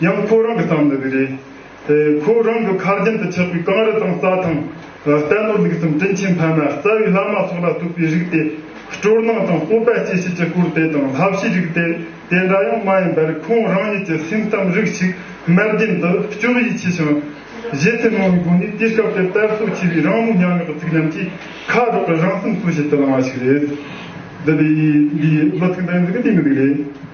ཡང་ཁོ་རང་གི་བསམ་བློ་དེ་རེད། དེ་ཁོ་རང་གི་ཁ་རྒྱུན་དུ་ཆགས་པའི་གངས་རི་དང་རྩྭ་ཐང། རྟ་ནོར་ལུག་གསུམ་སྤྲིན་ཆེན་འཕན་མ་རྩ་བའི་བླ་མ་སོགས་ལ་གཏུགས་པའི་རིགས་དེ། སྤྲོར་སྣང་དང་སྤོབས་པ་སྐྱེ་བྱེད་ཀྱི་སྐོར་དེ་དང་ལྷ་བྱའི་རིགས་དེ་དེ་འདྲ་ཡང་མ་ཡིན་པར་ཁོང་རང་ཉིད་ཀྱི་སེམས་གཏམ་རིགས་ཤིག་དམར་རྗེན་དུ་སྐྱོགས་ཡིད་ཆེས་ཤིང། གཞི་ཚེ་མང་བའི་སྒོ་ནས་དུས་སྐབས་དེར་དར་སོ་ཆེ་བའི་རང་ལུས་ཉམས་ཡོད་པ་ཚིག་ཉམས་ཀྱིས་ཁ་སྒྲོག་པའི་རང་སེམས་གསོ་བྱེད་དུ་བླངས་བ་ཞིག་རེད། འདི་འདྲའི་ལོ་ཚིགས་འདྲ་ཡང་འདི་གི་དུས་མི་འདུག་ལེ།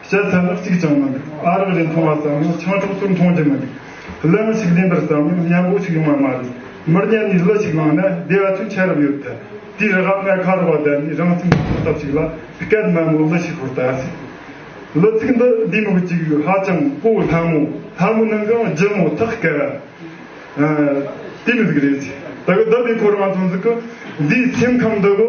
བཤད་ཚད་ནི་གཅིག་ཀྱང་མི་འདུག་ཨ་རག་རེ་འཐུང་བ་ཙམ་ཡང་ཆང་འཁྲུག་ཏུ་མཐོང་རྒྱུ་མི་འདུག་གླུ་མི་ཞིག་ལེན་པར་བསམ་ཡང་སྙན་པོ་ཞིག་ཡོང་བ་མ་རེད་མིར་བརྙས་ནས་གླུ་ཞིག་བླངས་ན་བདེ་བ་ཆུང་ཆེ་རབ་ཡོད་དེ་དེའི་རེ་བར་ངས་ཁ་རུ་བ་བསྡད་ནས་རང་སེམས་ལ་ཐོག་ཐབས་ཤིག་ལ་སྐད་དམའ་མོས་གླུ་ཞིག་ཤོར་ད་ཟེར། གླུ་ཚིག་འདི་འདིའི་མིག་གཅིག་ཧ་ཅང་སྤོ་བོ་ལྷ་མོ་ལྷ་མོ་ནང་གང་རྒྱུ་མོ་ཐག་སྐད་ར་དེ་མི་ཟིག་རེད་ཟེར་ད་གི་བདག་པའི་འཁོར་དབང་ཐང་ཟིག་གི་འདིའི་སེམས་ཁམས་འདི་གི།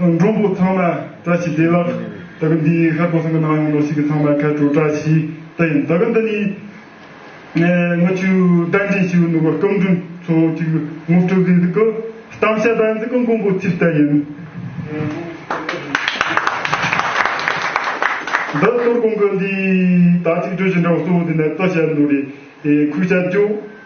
མགྲོན་པོ་ཚང་མ་བཀྲ་ཤིས་བདེ་ལགས། ད་གི་འདི་ཡིན་ཧ་གོ་སང་གི་ནང་ཡོང་འདོག་ཤིག་གི་ཚང་མ་ཁ་དྲོ་བཀྲ་ཤིས་བདེ་ཡིན་ད་གི་འདི་ནི། ནག་ཆུ་བདག་འདྲེན་ཞི་བའི་ནུ་བ་སྐུ་མགྲོན་ཚོ་གཅིག་ངུ་སྤྲོ་གི་འདུག་གི་གཏམ་བཤད་དག་འདི་གི་མགོན་པོ་ཚིག་ལྟ་ཡིན། འདི་གཏོར་གོང་གི་འདི་དག་ཚིག་སྒྲོས་ཞིག་འདྲ་བ་གསོ་བོ་འདི་ནས་གཏོར་བཤད་འདུག་རེ་ཁུག་བྱ་རྒྱུ།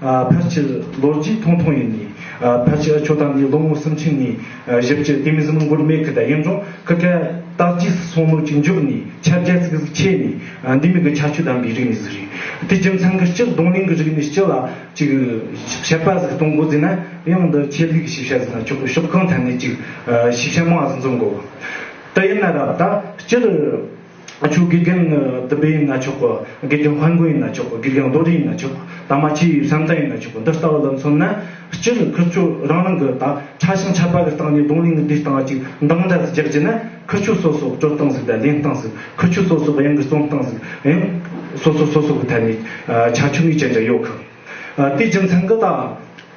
ཕལ་ཆེར་ལོ་རྒྱུས་ཐུང་ཐུང་ཡིན་ནི། ཕལ་ཆེར་ཆོས་དང་ནི་ལོ་ངོ་སུམ་ཅུ་ནི་བཞི་བཅུ་སྟེ་མི་གསུམ་འགོར་མེད་ཁི་ད་ཡིན་རུང་ཁི་ཁལ་རྟགས་རྗེས་སུ་སོང་ལོ་གཅིག་འཇུག་ནི་ཆ་བརྒྱད་ཚིག་གཟིགས་ཕྱེད་ནི་འདི་མི་གི་ཆ་ཆུ་དམ་པའི་རིགས་ནི་གཟིགས་རིགས་དེ་རྒྱུ་མཚན་གི་སྤྱིར་གདོང་གླིང་གི་རིགས་ནི་སྤྱི་ལ་གཅིག་བཤད་པ་གཟིགས་སྟོང་འགོ་བརྫིས་ན་ཡང་འདི་ཆེད་ལུས་ཀྱི་ཞིབ་ཆ་གཟིགས་ན་ཆོག་གི་ཤོག་གང་ཐད་ནས་གཅིག་ཞིབ་ཆ་མང་གཟིགས་མཛོད་འགོ་བརྩི་ཡིན་ན་རབ་ད་སྤྱིར། ཆུ་དགེ་རྒན་བདུན་པ་ཡིན་ན་ཆོག་གོ་དགེ་རྒན་དཔང་རྒོད་ཡིན་ན་ཆོག་གོ་དགེ་རྒན་རྡོ་རིང་ཡིན་ན་ཆོག་གོ་དང་མ་ཕྱི་ཡི་བསམ་གཏན་ཡིན་ན་ཆོག་གོ་འདི་ལྟ་བུ་ལ་མཚོན་ན་སྤྱིར་ཁུལ་ཆོས་རང་རང་གི་དག་ཆ་ཞིང་ཆ་པ་གི་སྟེང་ནས་རྡུང་ལེན་གྱི་འདུས་སྟངས་གཅིག་མདངས་འདྲ་ཟིག་རྒྱག་རྒྱུ་ན་ཁུལ་ཆོས་སོ་སོ་སྤྲོད་སྟངས་ཟིག་དང་ལེན་སྟངས་ཟིག་ཁུལ་ཆོས་སོ་སོ་གཡང་གི་བརྩོམ་སྟངས་ཟིག་གཡང་སོ་སོ་སོ་སོ་གི་ཐད་ནས་ཆ་ཆུང་ངུའི་ཅན་འདྲ་ཡོད་གི། དེའི་རྒྱུ་མཚན་གི་དང།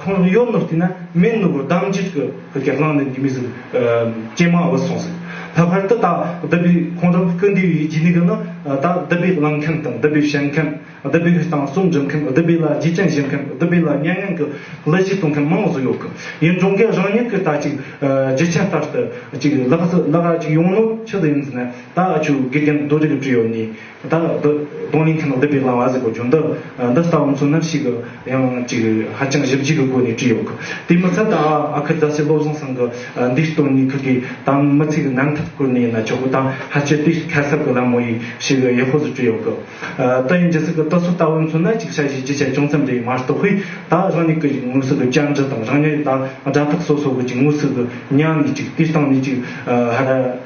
ཁོང་གཡོ་ནུར་བསྟི་ན་མེད་ནུར་བུར་གདངས་འཇིགས་ཀྱི་གེགས་བསླངས་ནས་འདི་མི་ཟིན་ཀྱེ་མ་འོད་སོང་ཟེར། ད་བར་དུ་བདག་བདུད་པའི་ཁོང་ཁྲོ་ཀུན་འདུས་ཡིད་ཀྱི་ནུས་པ་ནི་བདག་བདུད་པའི་བླངས་མཁན་དང་བདུད་པའི་བཤད་མཁན་བདུད་པའི་ཧུད་སྟངས་གསུམ་འཇོམས་མཁན་བདུད་པའི་ལ་རྒྱའི་སྤྱན་བཞེས་མཁན་བདུད་པའི་ལ་སྙན་ངན་གྱི་ལི་ཆས་གཏོང་མཁན་མང་བཟོ་ཡོད་ཀི་ཡིན་གྲོང་ཁྱེར་རང་ཉིད་ཀྱི་ད་ཅིག་རྗེ་ཁྱེད་ལྟར་དུ་ཅིག་ལགས་སུ་ལ་ར་ཅིག་ཡོང་ནོ་ཕྱི་དུ་ཡིན་ཟེར་ན་ད་ཨ་ཆུ་དགེ་རྒན་རྡོ་རིགས་བྲིས་ཡོད་ནི། ད་ལ་འདི་གདོང་ལེན་མཁན་ནོ་འདི་བེ་གླང་བ་ཟེར་བའི་བྱུང་འདི་འདི་ལྟ་བུ་ཚོ་ནམ་ཞིག་ཡང་ཅིག་ཧ་ཅང་ཞིབ་འཇུག་གི་སྒོ་ནས་བྲིས་ཡོད་གི་དེ་མི་ཚད་ད་ཨ་ཁུ་རྫ་ཚེ་བློ་བཟང་ཚང་གི་འདིའི་སྟོད་ནས་ཁུག་གི་དང་མི་ཚིག་རྣམ་ཐར་བསྐུར་ནས་ཡིན་ན་ཆོག་གི་དང་ཧ་ཅེ་དེ་ཁ་གསབ་གི་ལམ་མོ་ཡིས་ཞིག་ཡེ་ཧོ་ཟུར་བྲིས་ཡོད་གི་ཏི་ཡིན་ཇི་སྲིད་གི་ཏི་སོ་ལྟ་བུ་ཚོ་ནམ་ཅིག་ཤ་བཞེས་རྒྱུ་ཆ་ཅུང་ཙམ་རེ་མ་གཏོགས་ཧུས་ད་རང་ཉིད་ཀྱི་དངོས་ཟོག་གི་བཅར་འདྲི་དང་རང་ཉིད་ད་སྒྲ་ཐག་སོ་སོ་གི་ཅིག་དངོས་ཟོག་གི་མྱང་ནས་ཅིག་དེ་སྟེང་ནས་ཅིག་ཧ་ར།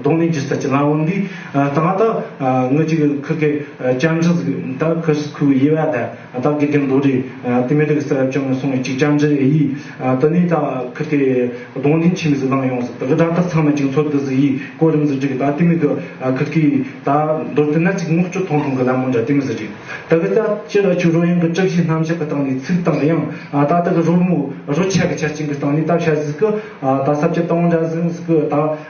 གདོང་ལེན་གྱི་སྲིད་ཀྱི་ལམ་དབང་འདི་ད་མ་ཏག་ངོས་ཀྱི་ཁུག་གི་སྐྱབས་འགྲོ་ཟིག་ད་ཁོས་སུ་ཁུག་ཡེ་བ་ད་ད་དགེ་རྒན་རྡོ་རི་དེ་མི་རིགས་སེ་ར་བཅོམ་ནས་སོང་བའི་ཅིག་སྐྱབས་འགྲོ་ཨེ་ཡིས་ད་ནི་ད་ཁུག་དེ་གདོང་ལེན་ཆེ་མི་ཟིག་ལངས་ཡོང་ཟིག་ད་གི་སྒྲ་ཐག་ཚང་མ་ཅིག་འཚོ་དི་ཟིག་ཡིས་གོ་རིམ་ཟིག་བྲིས་གི་ད་དེ་མི་གི་ཁུག་གི་ད་མདོར་དེ་ན་ཅིག་སྔོག་སྐྱོ་ཐོང་ཐོང་གི་ལམ་མོ་འདྲ་དེ་མི་ཟིག་བྲིས་ད་གི་ད་སྤྱི་ལ་ཆུ་རོ་ཡང་གི་གྲིབ་བཞིན་ནམ་ཞག་གི་སྟེང་ནས་ཚིག་དང་ཡང་ད་ད་གི་རོལ་མོ་རོལ་ཆ་གི་ཆ་ཅིག་གི་སྟེང་ནས་ད་བཤད་ཟིག་གི་ད་སྲབ་ཆ་དང་བོ་འདྲ་ཟིག་གི་ད།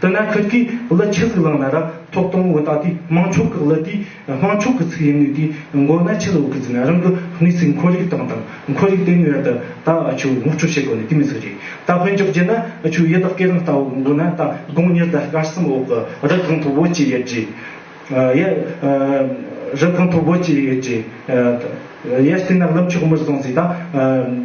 དེ་ན་ཁུལ་གྱིས་གླུ་ཆུ་ཟིག་བླངས་ན་ར་ཐོག་དང་བོ་ད་དུས་དམངས་ཕྱོགས་ཀྱི་གླུ་དེ་དམངས་ཕྱོགས་ཀྱི་ཚིག་ཡིན་ནུས་དེ་མགོ་ན་ཆུ་ལོག་གི་ཟིག་ན་རང་གི་གནས་ཚིག་འཁོར་རིགས་སྟངས་དང་འཁོར་རིགས་ལྡན་ནུས་ད་ད་ཆུ་བོ་སྔོག་འཕྲོ་བྱེད་དགོས་ནི་དེ་མི་ཟིག་རེད་ད་ཕོན་འཇོག་རྒྱུ་ན་ཆུ་ཡི་དག་གི་རང་ལྟ་བུ་མགོ་ན་ད་དགོང་ཉིར་ད་སྐར་གསུམ་འོག་གི་རི་གང་མཐོ་བོ་བཅས་ཡོད་རྗེས་ཡ་རི་གང་མཐོ་བོ་བཅས་ཡོད་རྗེས་ཡ་དེ་ན་གླུ་མཆོག་མི་བཟང་ཟིག་ད།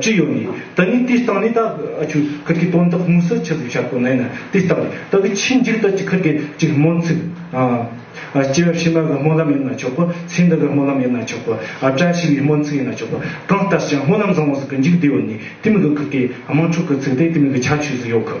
ཅི་ཡོད་ནི། ད་ནི་དེ་སྟངས་ནི་ད་ཨ་ཆུ་ཁུལ་གྱི་དོན་དག་དམིགས་བསལ་ཆེ་བཟོ་བྱ་དགོས་ན་ཡིན་ན་དེ་ལྟར་རེད་ད་གི་ཕྱིས་འཇིག་ལྟ་ཅི་ཁུལ་གྱི་ཅིག་སྨོན་ཚིག། སྐྱེ་བ་ཕྱི་མ་གི་སྨོན་ལམ་ཡིན་ན་ཆོག་གོ་ཚེ་འདི་གི་སྨོན་ལམ་ཡིན་ན་ཆོག་གོ་བཀྲ་ཤིས་པའི་སྨོན་ཚིག་ཡིན་ན་ཆོག་གོ་གང་ལྟར་ཀྱང་སྨོན་ལམ་བཟང་བོ་ཟིག་གི་འཇིག་བདེ་ཡོད་ནི་དེ་མིག་གི་ཁུལ་གྱི་དམངས་ཁྲོད་གི་ཚིག་དེ་དེ་མིག་གི་ཆ་ཆོས་སུ་ཡོད་གི།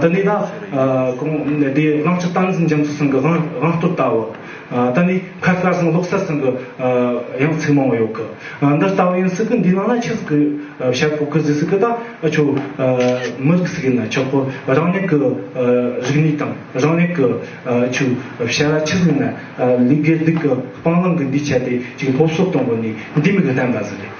ད་ནི་ད། གོང་དེའི་བླང་བྱ་སྟངས་འཛིན་རྒྱ་མཚོ་སང་གི་དབང་སྟོབས་ལྟ་བུ། ད་ནི་ཁ་སྐར་སང་ལོག་ས་སང་གི་ཡང་ཚིག་མང་བོ་ཡོད་གི། འདི་ལྟ་བུ་ཡིན་སྲིད་གི་འདི་ནང་ན་ཆིག་གི་བྱ་ཕོ་གི་ཟིག་སྲིད་གི་ད་ཁྱོད་མི་རིགས་སྲིད་ཡིན་ན་ཆོག་གི་རང་ཉིད་གི་རིག་གནས་དང་རང་ཉིད་གི་ཆོས་བྱ་བ་ཆིག་ཡིན་ན་ལུས་དགེ་སྡིག་གི་སྤང་བླང་གི་འདུས་བྱས་དེ་ཅིག་སློབ་གསོ་གཏོང་དགོས་ནི་འདི་མིག་བརྟན་པ་ཟིག་རེད།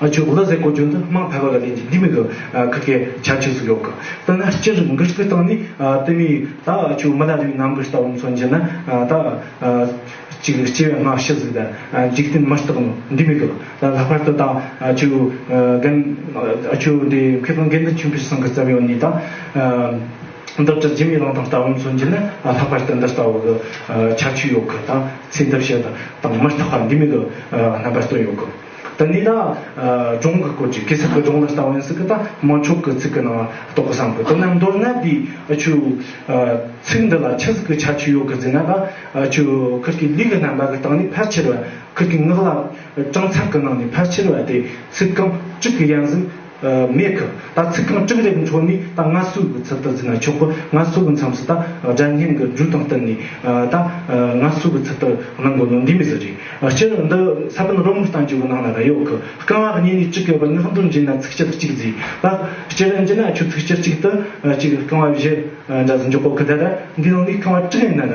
ཨ་ཆོས་གོ་ལ་ཟེར་གོ་ཆོས་འདི་དམངས་ཕལ་པ་ལ་ལས་ཀྱི་འདི་མི་གི་ཁ་ཁའི་བྱ་བྱེད་སུ་ཡོག་གི་ལྟ་ན་སྤྱིར་འགུལ་སྤྱི་བཏང་ནས་ལྟོས་མེད་ཡིན་ད་ཨ་ཆོས་མི་ལ་ལུས་ནམ་གི་ལྟ་བུ་མཚོན་གྱི་ན་ད་ཅིག་སྐྱེ་བའི་སྔ་ཕྱི་ཟིག་ད་འཇིག་རྟེན་མི་རྟག་ནོ་འདི་མི་གི་ད་ལྷག་པར་དུ་ད་ཨ་ཆོས་རྒན་ཨ་ཆོས་འདི་མཁས་པ་འགན་འདི་ཆེན་པོ་ཞིག་སང་གི་རྩ་བའི་ཡོང་ནས་ད་འདི་ལྟར་རྗེ་མི་ལང་དང་ལྟ་བུ་མཚོན་གྱི་ན་ལྷག་པར་དུ་འདི་ལྟ་བུ་གི་ཁྱབ་ཆོས་ཡོག་གི་ད་ཚེ་འདི་བྱེད་དང་མི་རྟག་པ་འདི་མི་གི་རྣམ་པ་སྟོན་ཡོག་གི། ད་ནི་ན། སྦྱོང་གི་སྐོར་གྱི་གི་ཚིག་གི་སྦྱོང་ལ་ལྟ་བ་ཡིན་སྲིད་ཀྱི་ད་དམར་མཆོག་གི་ཚིག་གི་ནང་བ་རྟོགས་གི་བསམ་དགོས་དོ་ན་མདོར་ན་དེའི་ཨ་ཆུ། ཚིག་འདི་ལ་ཆ་ཚིག་གི་ཆ་ཆུ་ཡོད་གི་འཛིན་ན་ད་ཨ་ཆུ་ཁུར་གྱི་ལུས་ཀྱི་རྣམ་པ་གི་སྟེང་ནས་ཕལ་ཆེར་བ་ཁུར་གྱི་ངག་ལ་སྤྲང་ཚར་གི་ནང་ནས་ཕལ་ཆེར་བ་དེ་ཚིག་རྐང་གཅིག་གི་ཡང་ཟིན་མེད་ཁུ། ད་ཚིག་རྐང་བཅུ་འདེབས་འཕྲོ་ནས་ད་ང་སུ་གི་ཚུལ་ལྟར་འཛིན་ན་ཆོག་གོ། ང་སུ་གི་མཚམས་སུ་ད་སྒྲ་བརྙན་གྱི་འབྲུ་དང་བསྟུན་ནས་ད་ང་སུ་གི་ཚུལ་ལྟར་གནང་དགོས་ནོ་འདི་མི་ཟེར་རེད། སྤྱིར་འདི་ས་བོན་རོ་མུ་སྟངས་ཀྱི་བུ་ནང་ལ་ར་ཡོད་ཁུ། རྐང་བ་བརྙན་ནས་གཅིག་གི་བུ་སྔགས་འབྲུ་འབྱིན་ན་ཚིག་སྤྱིར་གཅིག་བརྫིས་ལ། སྤྱིར་འབྱིན་ན་ཆུ་ཚིག་སྤྱིར་གཅིག་ཏུ་གཅིག་རྐང་བ་བཞི་འདྲ་བཟོ་འཇོག་གོ་གུ་ད་ར་འདི་ནང་ནས་རྐང་བ་དྲུག་ཡིན་ན་ར།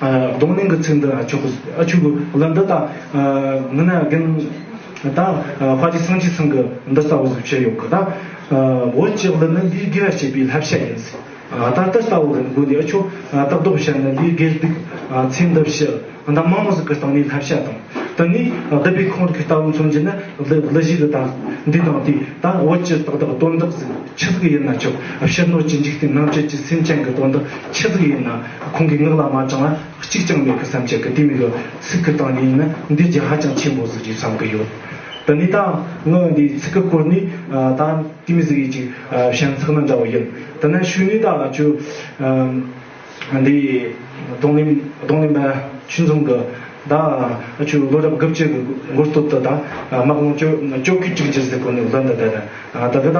གདོང་ལེན་གྱི་ཚིག་འདི་ཨ་ཆོག་གི་ཨ་ཆོག་གི་ལ་འདི་དང་ངི་ན་རྒན་དང་ཕ་ཅི་སང་ཅི་སང་གི་འདི་ལྟ་བུ་བཤད་ཡོད་གི་དང་བོད་ཀྱི་གླུ་ནི་ལུས་དགེ་བ་བྱེད་པའི་ལྷ་བཤད་ཡིན་སྲིད་ད་ལྟ་ལྟ་བུ་རིན་དགོན་འདི་ཨ་ཆོག་སྟག་རྡོ་བཤད་ནི་ལུས་དགེ་སྡིག་ཚེ་འདི་བཞི་ད་མང་མོ་ཟིག་གི་སྟེང་ནས་ལྷ་བཤད་དང་དེ་ནས་བསྡུ་པའི་ཁོང་གི་ལྟ་བུ་མཚོན་གྱི་ནི་གླུ་བཞི་གི་དང་འདི་དང་དེ་དང་བོད་ཀྱི་ཏག་ཏག་དོན་དག་ཟིག་ཆི་ཟིག་ཡིན་ན་ཆོག་ཕྱི་སྣོད་ཀྱི་འཇིག་རྟེན་ནང་བཅུད་ཀྱི་སེམས་ཅན་གྱི་དོན་དག་ཆི་ཟིག་ཡིན་ན། ཁོང་གི་ངག་ལ་མ་དྲང་བ་གཅིག་ཀྱང་མེད་གི་བསམ་ཁྱེད་ཀྱི་དེ་མི་འདོད་ཚིག་གི་སྟངས་ཉིད་ནི་འདི་རྒྱ་ཧ་ཅང་ཆེན་པོ་ཟིག་ཅིག་བསམ་གི་ཡོད། དེ་ནས་ད་ངག་འདིའི་ཚིག་གི་སྐོར་ནི་ད་དེ་མི་ཟིག་ཡིན་ཅིག་ཞེན་ཚག་ན་འདྲ་བོ་ཡིན། དེ་ནས་ཤུ་ནི་ད་ལ་ཆུ། འདི་གདོང་ལེན་གདོང་ལེན་པ་ཆུ་འཛོམས་གི་ད་ཆུ་ལོ་རབས་དགུ་བཅུ་གི་འགོར་སྟོབས་དུ་ད་དམག་དཔུང་བཅོ་བཅོ་བརྒྱུད་དྲུག་འགྱུར་ཟིག་གོ་ནི་ལོ་འདི་འདི་རེད། ད་གི་ད་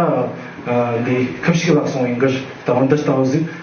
འདི་ཁབ་ཞིག་ལ་སོང་ཡིན་གི་ད་འོ་འདི་ལྟ་བུ་ཟིག།